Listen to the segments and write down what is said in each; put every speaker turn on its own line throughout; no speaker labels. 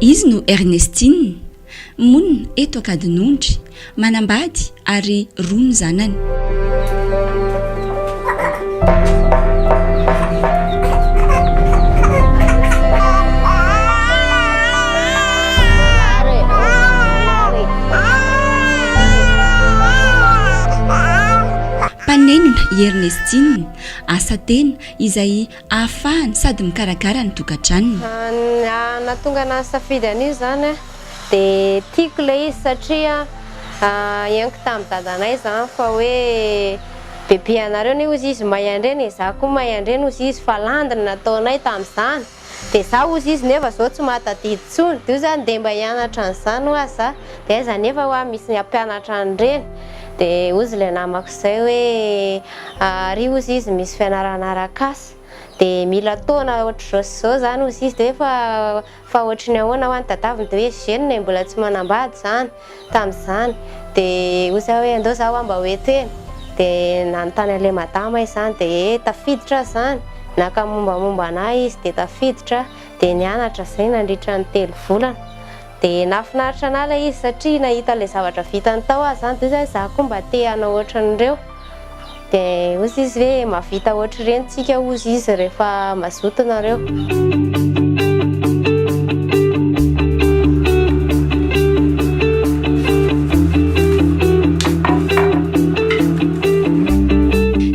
Izy no Ernestine, monina eto Ankadinondry, manambady ary roa ny zanany. Mpanenona i Ernestine, asa tena izay ahafahany sady mikarakara ny tokantranony. Nahatonga
anahy hisafidy an'io izany dia tiako ilay izy satria henoko tamin'ny dadanay izany fa hoe bebe anareo anie hozy izy mahay handrena e, izaho koa mahay handrena hozy izy fa landy ny nataonay tamin'izany. Dia za ozy izy nefa zao tsy mahatadidy tsony de io zany ndeha mba hianatra an'izany hoa za de aiza nefa hoa misy ny hampianatra an'ireny de ozy le namako zay hoe ary ozy izy misy fianarana arak'asa de mila taona ohatr'izao sy zao zany ozy izy de hoe fa fa ohatry ny ahoana hoa ny tadaviny de hoe jeune e mbola tsy manambady zany Tamin'izany dia hoy zay hoe andao za wa mba ho eto e! dia nanontany an'ilay madama izany dia ee tafiditra aza izany, naka mombamomba an'ahy izy dia tafiditra dia nianatra zay nandritra ny telo volana dia nahafinaritra an'ahy ilay izy satria nahita an'ilay zavatra vitany tao aho izany dia hoy zany za koa mba te hanao ohatran'ireo. Dia hozy izy hoe mavita ohatr'ireny tsika hozy izy rehefa mazoto nareo.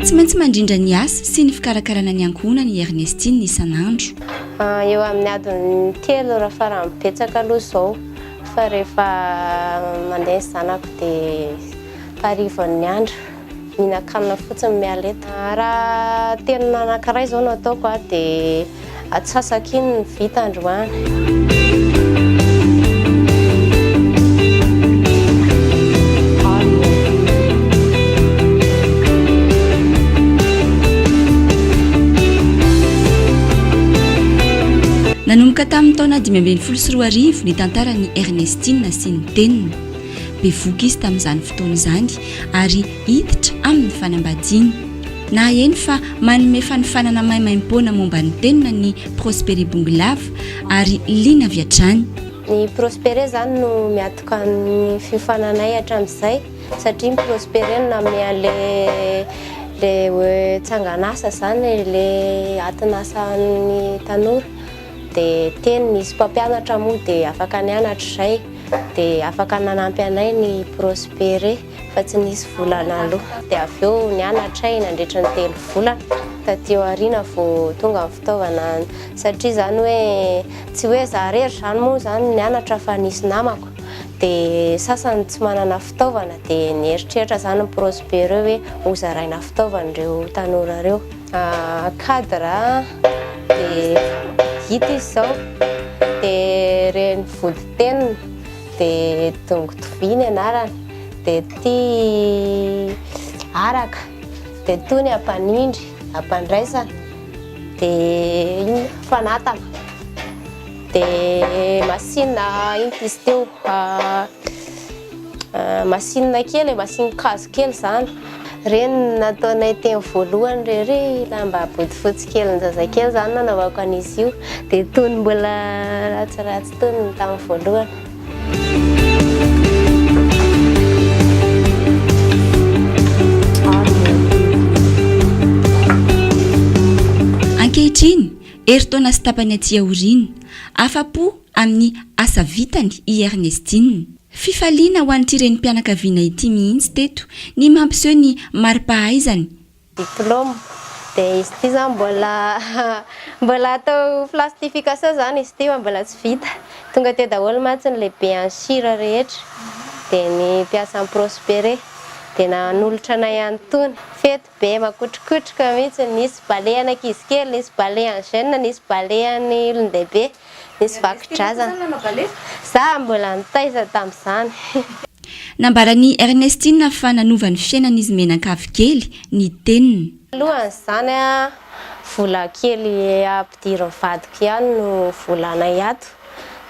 Tsy maintsy mandrindra ny asa sy ny fikarakarana ny ankohonany i Ernestine isan'andro. Eo amin'ny
adiny telo raha farany betsaka aloha izao fa rehefa mandeha ny zanako dia. harivan'ny andro, mihinan-kanina fotsiny miala eto. Raha teny anankiray izao no ataoko dia atsasako iny ny vita androany.
Nanomboka tamin'ny taona dimy ambin'ny folo sy roa arivo ny tantaran'i Ernestine sy ny teniny. Bevohoka izy tamin'izany fotoana izany ary hiditra amin'ny fanambadiana. Nahaheno fa manome fanofanana maimaimpoana momba ny tenona ny Prospere Bongolava ary liana avy hatrany. Ny Prospere
izany no miatoka ny fiofananay hatramin'izay satria ny Prospere no nanome an'ilay hoe tsangan'asa izany, ilay atin'asa an'ny tanora. dia teny nisy mpampianatra moa dia afaka nianatra izay dia afaka nanampy anay ny prospere fa tsy nisy vola naloa dia avy eo nianatra ay nandritra ny telo volana taty aoriana vo tonga ny fitaovana satria zany hoe tsy hoe za rery zany moa zany nianatra fa nisy namako dia sasany tsy manana fitaovana dia nieritreritra zany ny prospere hoe hozaraina fitaovana ireo tanora ireo cadre dia gita izy izao dia reny vody tenina dia dongo tovia ny anarany dia ty araka dia toy ny ampanindry ampandraisana dia iny fanatana dia masinina iny izy teo Masinina kely e, masinin-kazo kely izany. Ireny nataonay teny voalohany irery, lamba bodofotsy kelin-jazakely izany nanaovako an'izy io. Dia tony mbola ratsiratsy tony ny tamin'ny voalohany.
Ankehitriny, herintaona sy tapany aty aoriana, afa-po amin'ny asa vitany i Ernestine. Fifaliana ho an'ity renim-pianakaviana ity mihitsy teto ny mampiseho ny mari-pahaizany. Diplôme,
dia izy ity izany mbola mbola atao plastification izany izy ity fa mbola tsy vita. Tonga teo daholo mantsy ny lehibe any Sira rehetra, dia ny mpiasa any Prospere, dia nanolotra anay an'itony. Be makotrokotroka mihitsy, nisy balehan'ankizy kely, nisy balehan'ny jeune, nisy balehan'ny olon-dehibe, nisy vakodrazana. Za mbola nitaiza tamin'izany.
Nambaran'i Ernestine fa nanova ny fiainan'izy mianankavy kely ny teniny. Alohan'izany,
vola kely ampidirin'ny vadiko ihany no volanay ato,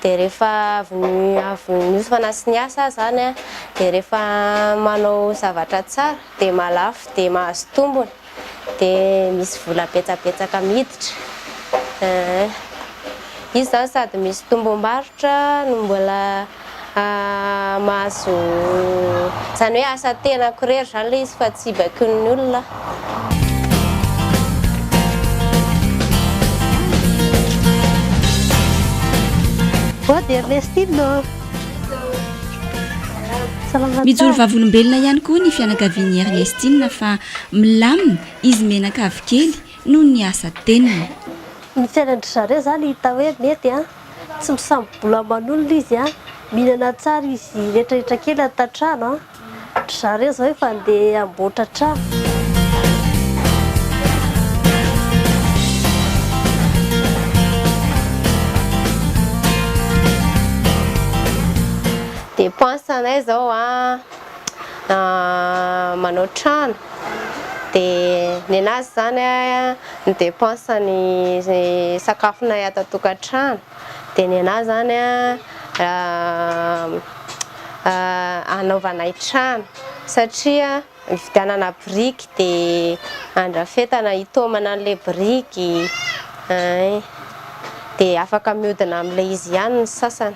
dia rehefa avy avy niofana sy niasa aho izany dia rehefa manao zavatra tsara, Dia mahalafo dia mahazo tombony dia misy vola betsabetsaka miditra eeh izy zany sady misy tombom-barotra no mbola mahazo zany hoe asa tenako irery zany ilay izy fa tsy baikoin'ny olona aho. Bonne
Ernestine ô! Mijoro vavolombelona ihany koa ny fianakavian'i Ernestine fa milamina izy mianakavy kely noho ny asa teniny. Ny fiainan'dry
zareo izany hita hoe mety an! Tsy misambobola aman'olona izy an! Mihinana tsara izy rehetrarehetra kely an tatrano an! Ry zareo izao efa handeha hamboatra trano.
Dépense anay izao manao trano dia nenazy izany ny dépense ny sakafonay ato an-tokantrano. Dia ny anà izany hanaovanay trano satria hividianana biriky dia handrafetana hitaomana an'ilay biriky dia afaka mihodina amin'ilay izy ihany ny sasany.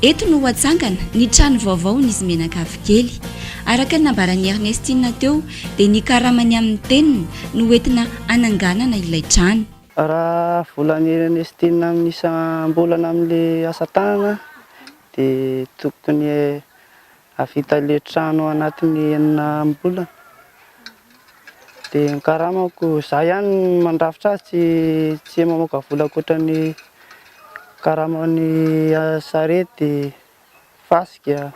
Eto no ho atsangana ny trano vaovao ny izy menakavy kely. Araka ny nambaran'i Ernestine teo dia ny karamany amin'ny teniny no entina hananganana ilay trano. Raha
volan'i Ernestine amin'ny isam-bolana amin'ilay asa tanana dia tokony hahavita le trano anatin'ny enina ambolana dia ny karamako za ihany mandrafitra azy tsy tsy mamoaka vola ankoatran'ny karaman'ny sarety, fasika,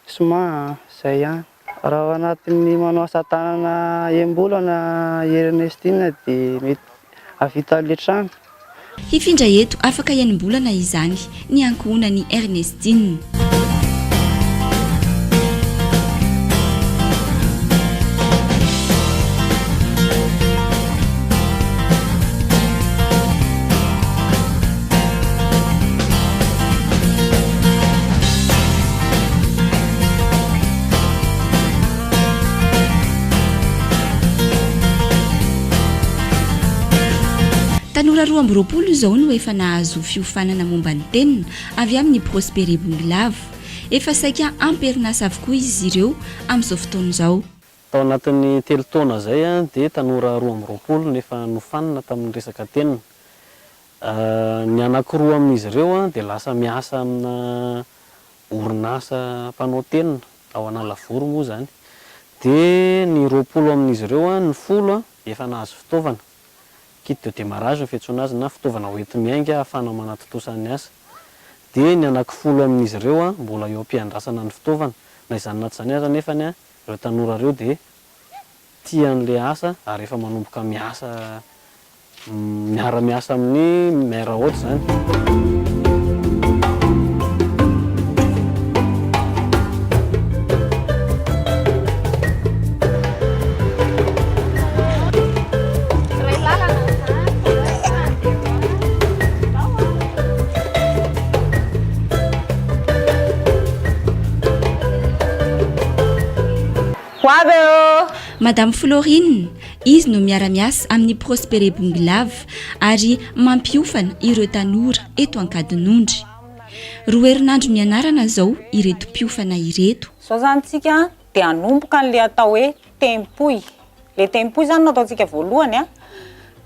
siman, zay ihany. Raha ao anatin'ny manao asa tanana embolana i Ernestine dia mety hahavita avy hatrany. Hifindra
eto afaka enim-bolana izany ny ankohonan'i Ernestine. Tanora roa amby roapolo izao no efa nahazo fiofanana momba ny tenona avy amin'ny Prospere Bongolava. Efa saika ampy herinasa avokoa izy ireo amin'izao fotoana izao. Tao anatin'ny
telo taona izay dia tanora roa amby roapolo no efa nofanina tamin'ny resaka tenona. Ny anankiroa amin'izy ireo dia lasa miasa amina orinasa mpanao tenona ao Analavory moa izany dia ny roapolo amin'izy ireo, ny folo efa nahazo fitaovana, kit de démarrage ny fiantsoana azy na fitaovana hoenti-miainga ahafahana manatontosa ny asa. Dia ny anaky folo amin'izy ireo mbola eo am-piandrasana ny fitaovana. Na izany na tsy izany aza anefa ireo tanora ireo dia tia an'ilay asa ary efa manomboka miasa miara-miasa amin'ny maire hôte izany.
Ho avy aho ô! Madame Florine, izy no miara-miasa amin'ny Prospere Bongolava ary mampiofana ireo tanora eto Ankadinondry. Roa herinandro nianarana izao ireto mpiofana ireto. Izao izany isika
dia hanomboka an'ilay atao hoe tempoy. Ilay tempoy izany no ataontsika voalohany.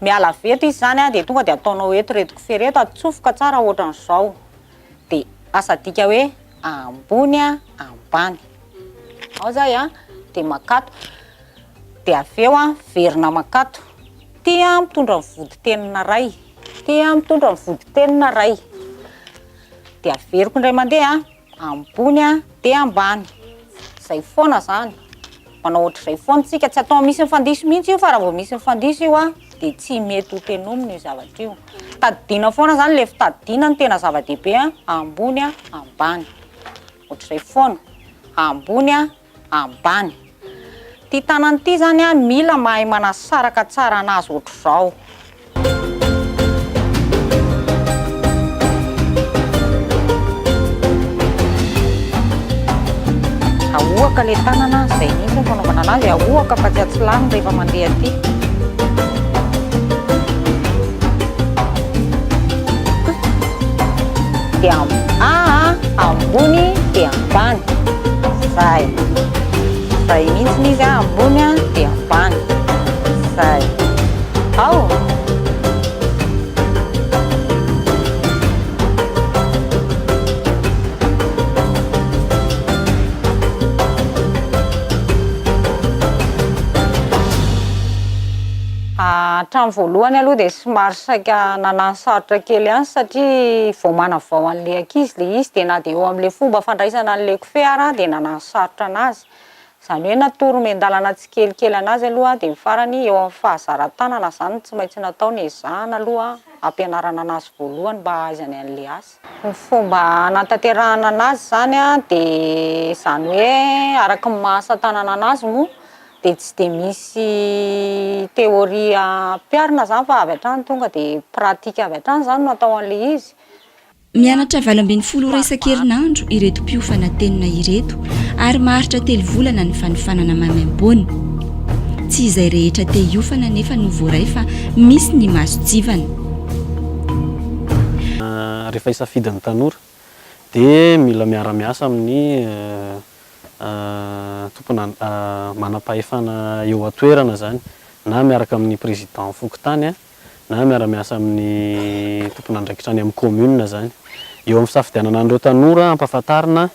Miala avy eto izy izany dia tonga dia ataonao eto ireto kofehy ireto, atsofoka tsara ohatran'izao. dia asa adika hoe ambony ambany. Ao zay a, dia makato, dia avy eo a, verina makato. Ty a mitondra ny vodin-tenina iray, ty a mitondra ny vodin-tenina iray. Dia averiko indray mandeha ambony dia ambany. Izay foana izany. manao ohatr'izay foana isika, tsy atao misy ny fandiso mihitsy io fa raha vao misy ny fandiso io an dia tsy mety ho tenomina io zavatra io. Tadidiana foana izany, ilay fitadidiana no tena zava-dehibe an, ambony an, ambany, ohatr'izay foana, ambony an, ambany. Ity tanana ity izany an mila mahay manasaraka tsara an'azy ohatr'izao. Ahoaka le tanana zay mihitsy fanaovana anazy ahoaka fa tsy atsilano rehefa mandeha aty dia aa ambony dia ambany zay Zay mintsiny izy a ambony a de ambany zay ao hatramin'ny voalohany aloha dia somary saika nanano sarotra kely ihany satria vao manavao an'ilay ankizy ilay izy dia na dia eo amin'ilay fomba fandraisana an'ilay kofehy ary aho dia nanano sarotra anazy. Izany hoe natory miandalana tsikelikely anazy aloha dia ny farany eo amin'ny fahazaran-tanana izany no tsy maintsy natao ny ezahana aloha hampianarana anazy voalohany mba hahaizany an'ilay asa. Ny fomba hanatanterahana anazy izany dia izany hoe araka ny maha asa tanana anazy moa dia tsy dia misy théorie ampiharina izany fa avy hatrany tonga dia pratique avy hatrany izany no atao an'ilay izy. Mianatra
valo ambin'ny folo ora isan-kerinandro ireto mpiofana tenona ireto ary maharitra telo volana ny fanofanana maimaimpoana. Tsy izay rehetra te hiofana anefa no voaray fa misy ny masontsivana.
Rehefa hisafidy ny tanora dia mila miara-miasa amin'ny tompona manam-pahefana eo an-toerana izany na miaraka amin'ny président fokontany na miara-miasa amin'ny tompon'andraikitra any amin'ny commune izany. Eo amin'ny fisafidianana an'ireo tanora hampahafantarina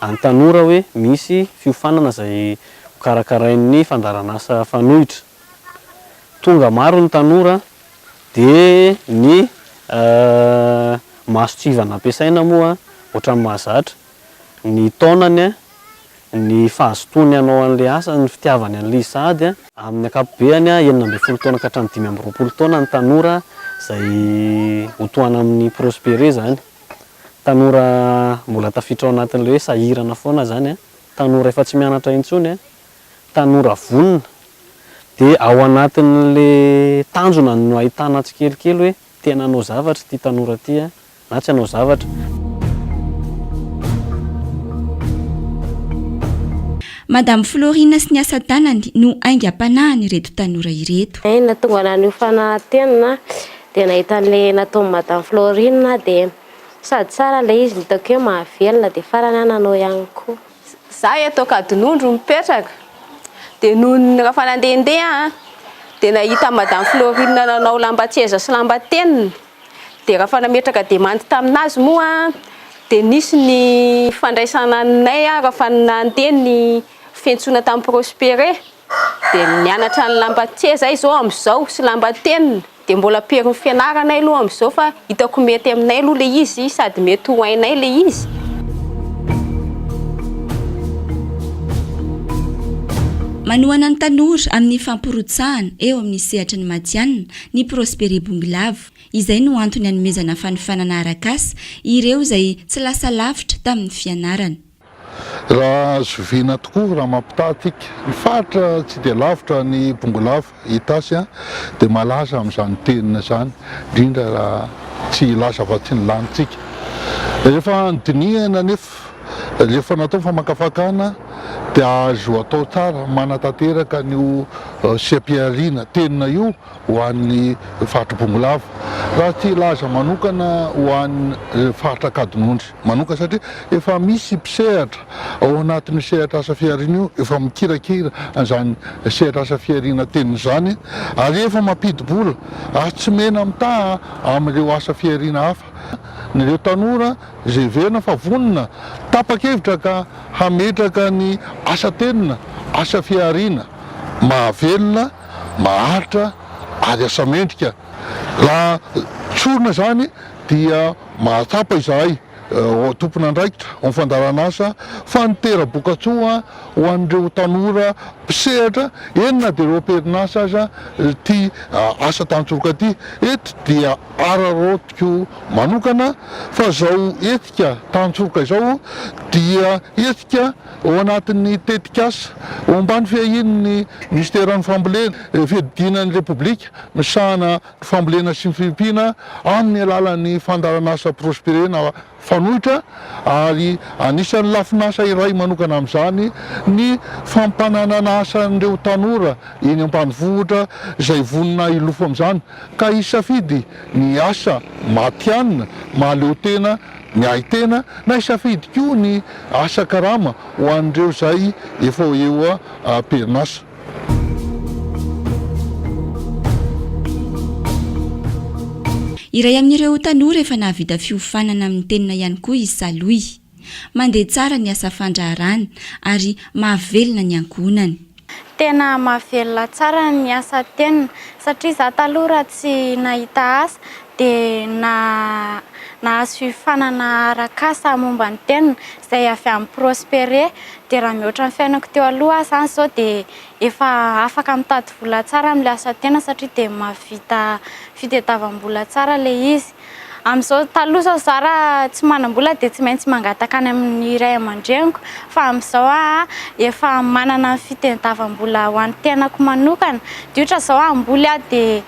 an'ny tanora hoe misy fiofanana izay hokarakarain'ny fandaharan'asa fanoitra. Tonga maro ny tanora dia ny mason-tsivana ampiasaina moa ohatran'ny mahazatra ny taonany, ny fahazotoany hanao an'ilay asa, ny fitiavany an'ilay izy sahady. Amin'ny ankapobeany, enina ambin'ny folo taona ka hatramin'ny dimy amby roapolo taona ny tanora izay ho tohana amin'i Prospere izany. Tanora mbola tafiditra ao anatin'ilay hoe sahirana foana izany, tanora efa tsy mianatra intsony, tanora vonona. Dia ao anatin'ilay tanjona no ahitana tsikelikely hoe tena hanao zavatra ity tanora ity. Na tsy hanao zavatra.
Madame Florine sy ny asa tanany no aingam-panahin' ireto tanora ireto. Ny nahatonga ana an'io
fanatenana dia nahita an'ilay nataon'i Madame Florine dia sady tsara ilay izy, nitaoko hoe mahavelona dia farany aho nanao ihany koa. Za eto
Ankadinondro mipetraka dia nony rehefa nandehandeha aho dia nahita an'i Madame Florine nanao lambatseza sy lambatenina Dia raha fa nametraka demandy tamin'azy moa dia nisy ny fandraisana anay raha fa nandeha ny fiantsoana tamin'i Prospere dia nianatra ny lambatie zay zao amizao sy lambatenina dia mbola amperin'ny fianaranay aloha amizao fa hitako mety aminay aloha le izy sady mety ho hainay le izy.
Manohana ny tanora amin'ny fampirotsahana eo amin'ny sehatry ny matianina Ny Prospere Bongilavo. Izay no antony anomezana fanofanana arak'asa ireo izay tsy lasa lavitra tamin'ny fianarana. Raha
zoviana tokoa, raha mampitaha antsika, ny faritra tsy dia lavitra an'i Bongolava, Itasy, dia malaza amin'izany teny izany, indrindra raha tsy hilaza afa-tsy ny lanintsika. Rehefa dinihana anefa. Sakafo, Rehefa natao ny famakafakana dia azo atao tsara manatanteraka an'io seha-pihariana tenona io ho an'ny faritry Bongolava. Raha tsy hilaza manokana ho an'ny faritra Ankadinondry manoka satria efa misy mpisehatra ao anatin'io sehatra asa fihariana io efa mikirakira an'izany sehatra asa fihariana tenona izany ary efa mampidi-bola ary tsy mena-mitaha amin'ireo asa fihariana hafa Ireo tanora izay heverina fa vonona, tapa-kevitra ka hametraka ny asa tenona, asa fihariana, mahavelona, maharitra ary asa mendrika. Raha tsorina izany dia mahatsapa izahay tompon'andraikitra ao amin'ny fandaharanasa fa ny tera-bokatsoa ho an'ireo tanora mpisehatra, eny na dia roa am-perinasa aza ity asa tantsoroka ity eto dia. Araraotiko manokana fa izao hetsika tantsoroka izao dia hetsika ao anatin'ny tetikasa ao ambany fiahian'ny Minisiteran'ny Fambolena, Fiadidiana ny Repoblika misahana ny Fambolena sy ny Fiompiana amin'ny alalan'ny fandaharanasa Prosper na. Fanoitra, ary anisan'ny lafin'asa iray manokana amin'izany ny fampananana asa an'ireo tanora eny ambanivohitra izay vonona hilofo amin'izany ka hisafidy ny asa matihanina mahaleo tena ny ahy tena na hisafidy koa ny asa karama ho an'ireo izay efa eo am-perinasa.
Iray amin'ireo tanora efa nahavita fiofanana amin'ny tenona ihany koa i Saloy. Mandeha tsara ny asa fandraharahana ary mahavelona ny ankohonany. Tena
mahavelona tsara ny asa tenona satria za taloha raha tsy nahita asa dia nahazo fiofanana arak'asa momba ny teniny izay avy amin'i Prospere dia raha mihoatra ny fiainako teo aloha aho izany izao dia efa afaka mitady vola tsara amin'ilay asa tena satria dia mahavita fitadiavam-bola tsara ilay izy amin'izao taloha izao za raha tsy manam-bola dia tsy maintsy mangataka any amin'ny ray aman-dreniko fa amin'izao aho efa manana fitadiavam-bola ho an'ny tenako manokana dia ohatra izao hamboly aho dia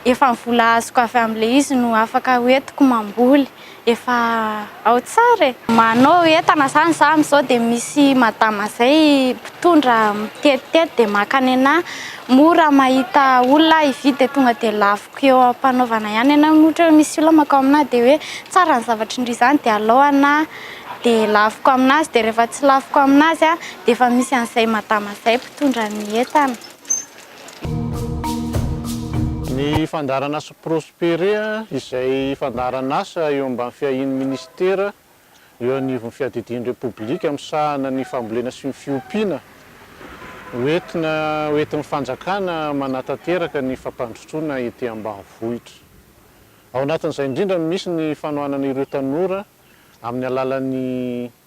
Efa ny vola azoko avy amin'ilay izy no afaka hoentiko mamboly. Efa ao tsara e! Manao entana izany izaho amin'izao dia misy madama izay mpitondra mitetitety dia maka any anahy. Moa raha mahita olona aho hividy dia tonga dia laviko eo am-panaovana ihany anahy. Moa ohatra hoe misy olona mankao aminahy dia hoe tsara ny zavatra indry izany dia alao anahy dia laviko aminazy. Dia rehefa tsy laviko aminazy dia efa misy an'izay madama izay mpitondra ny entana.
Ny fandaharanasa Prospere izay fandaharanasa eo ambany fiahian'ny Minisitera eo anivon'ny Fiadidian'ny Repoblika misahana ny Fambolena sy ny Fiompiana ho entina ho entin'ny Fanjakana manatanteraka ny fampandrosoana ety ambanivohitra. Ao anatin'izay indrindra no misy ny fanohanana ireo tanora amin'ny alalan'ny.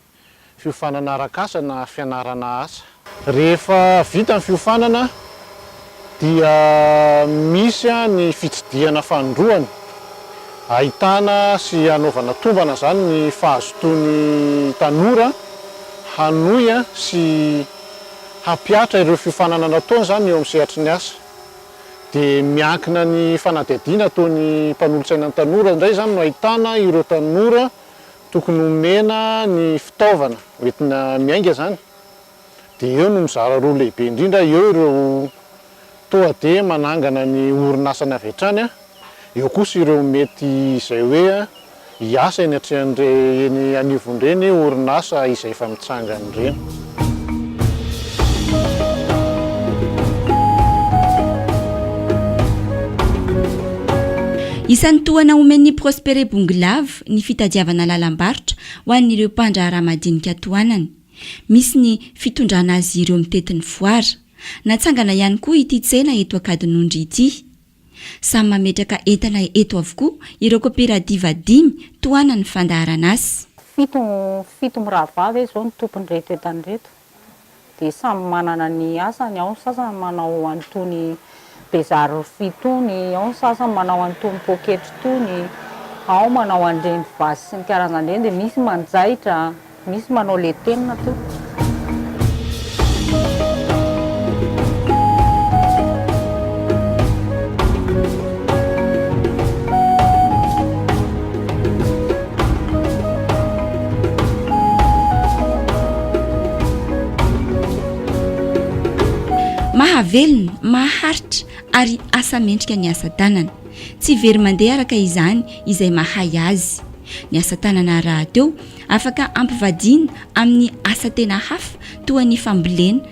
fiofanana arak'asa na fianarana asa. Rehefa vita ny fiofanana dia misy ny fitsidihana fanindroany ahitana sy hanaovana tombana izany ny fahazotoan'ny tanora hanohy sy hampihatra ireo fiofanana nataony izany eo amin'ny sehatry ny asa. Dia miankina ny fanadihadiana ataon'ny mpanolotsaina ny tanora indray izany no ahitana ireo tanora Tokony homena ny fitaovana hoentina miainga izany dia eo no mizara roa lehibe indrindra, eo ireo toa dia manangana ny orinasany avy hatrany, eo kosa ireo mety izay hoe hiasa eny atrehan'ireny eny anivon'ireny orinasa izay efa mitsangana ireny.
Isan'ny tohana omen'ny Prospere Bongelav, ny fitadiavana lalam-barotra ho an'ireo mpandraharaha madinika tohanany. Misy ny fitondrana azy ireo mitety ny foara. Natsangana ihany koa ity tsena eto Ankadinondry ity. Samy mametraka entana eto avokoa ireo koperativa dimy tohanan'ny fandaharan'asa. Fito fito
mirahavav izao ny tompon'ireto entana ireto. dia samy manana ny asany, ao ny sasany manao an'itony bezary rofia itony, ao ny sasany manao an'itony poketra itony, ao manao an'ireny vasy sy ny karazany ireny, dia misy manjaitra, misy manao letenina koa.
mahavelona maharitra ary asa mendrika ny asa tanana tsy very mandeha araka izany izay mahay azy ny asa tanana rahateo afaka ampivadiana amin'ny asa tena hafa toa ny fambolena